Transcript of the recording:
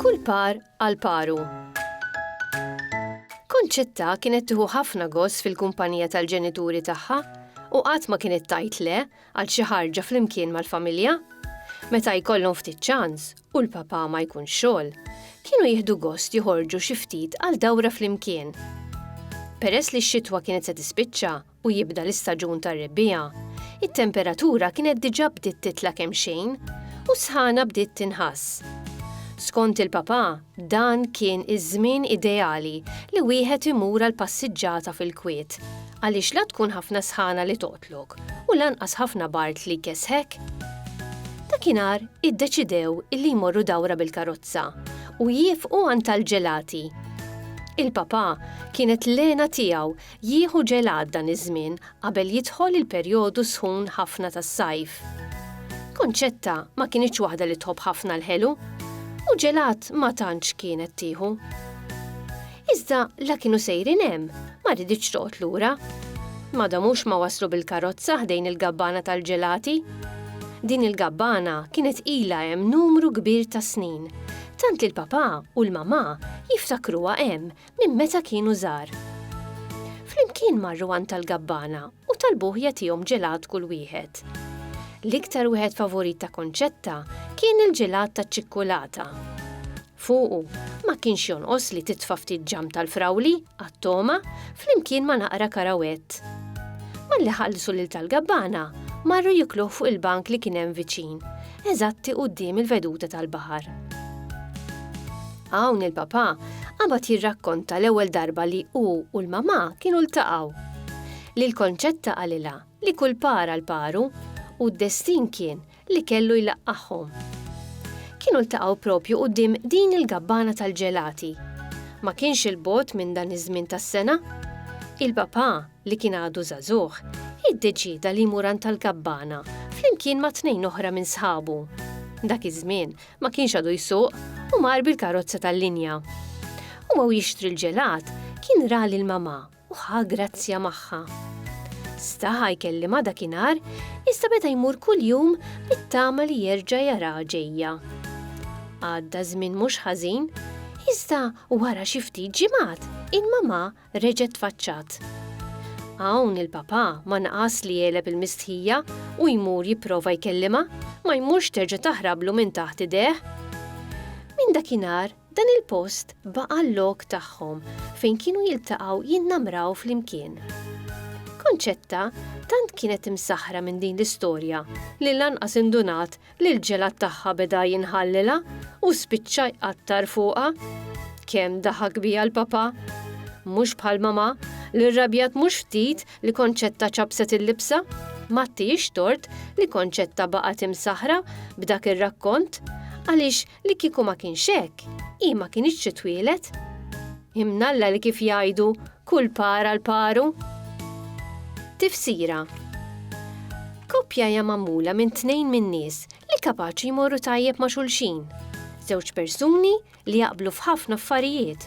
Kull par għal paru. Konċetta kienet tieħu ħafna gost fil-kumpanija tal-ġenituri tagħha u qatt ma kienet tajt le Għal xi ħarġa flimkien mal-familja? Meta jkollhom ftit ċans u l-papà ma jkunx xogħol, kienu jieħdu gost joħorġu xi ftit għal dawra flimkien. Peress li x-xitwa kienet se tispiċċa u jibda l-istaġun tar-rebbiegħa, it-temperatura kienet diġà bdiet titla' kemxejn u s-sħana bdiet tinħass. Skont il-papà, dan kien iż-żmien ideali li wieħed imur għal passiġġata fil-kwiet għaliex la tkun ħafna sħana li Klok, u lanqas ħafna b'art li jkessħek. Dakinhar iddeċidew illi jmorru dawra bil-karozza u jiefqu għand tal-ġelati. Il-papà kienet l-għena tiegħu jieħu ġelat dan iż-żmien qabel jidħol il-perjodu sħun ħafna tas-sajf. Konċetta ma kinitx waħda li tħobb ħafna l-ħelu, u ġelat ma tantx kienet tieħu. Iżda la kienu sejrin hemm, ma riditx toqgħod lura. Ma domux ma waslu bil-karozza ħdejn il-gabbana tal-ġelati. Din il-gabbana kienet ilha hemm numru kbir ta' snin, tant li l-papà u l-mamà jiftakruha hemm minn meta kienu żgħar. Flimkien marru għand tal-gabbana u talbuh jagħtihom ġelat kull wieħed. L-iktar wieħed favurit ta' Konċetta kien il-ġelat taċ-ċikkulata. Fuqu, ma kienx jonqos li titfa' ftit ġamm tal-frawli, għat-togħma, flimkien ma' naqra karawett. Malli ħallsu lil tal-gabbana, marru jikluh fuq il-bank li kien hemm viċin, eżatti quddiem il-veduta tal-baħar. Hawn il-papà qabad jirrakkonta l-ewwel darba li hu u l-mamà kienu ltaqgħu. Lil Konċetta qalilha li kull par għal paru, u d-destin kien li kellu jlaqqagħhom. Kienu ltaqgħu propju quddiem din il-gabbana tal-ġelati. Ma kienx 'il bogħod minn dan iż-żmien tas-sena. Il-papà, li kien għadu żagħżugħ, iddeċieda li jmur għand tal-gabbana flimkien ma' tnejn oħra minn sħabu. Dak iż-żmien ma kienx għadu jsuq u mar bil-karozza tal-linja. U għaw jixtri l-ġelat kien ra lil mamà. u ħa grazzja magħha. Staha jkellimha dakinhar, iżda beda jmur kuljum bit-tama li jerġa' jaraha ġejja. Għadda żmien mhux ħażin, iżda wara xi ftit ġimgħat il-mamà reġgħet tfaċċat. Hawn il-papà ma naqas li jegħleb il-mistħija u jmur jipprova jkellimha, ma jmurx terġa' taħrablu minn taħt idejh. Minn dakinhar Dan il-post baqa' l-lok tagħhom fejn kienu jiltaqgħu jinnamraw flimkien. Concetta tant kienet imsaħħra minn din l-istorja li lanqas indunat li l-ġelat tagħha beda jinħallilha u spiċċa jqattar fuqha. Kemm daħak biha l-papà! Mhux bħal mamà li rrabjat mhux ftit li Concetta ċappset il-libsa. Ma ttiehiex tort li Concetta baqgħet imsaħħra b'dak ir-rakkont għaliex li kieku ma kienx hekk, hi ma kinitx titwieled. Imnalla li kif jgħidu kull para l-paru. Tifsira Koppja hija magħmula minn tnejn minn nies li kapaċi jmorru tajjeb ma' xulxin. Żewġ persuni li jaqblu f'ħafna affarijiet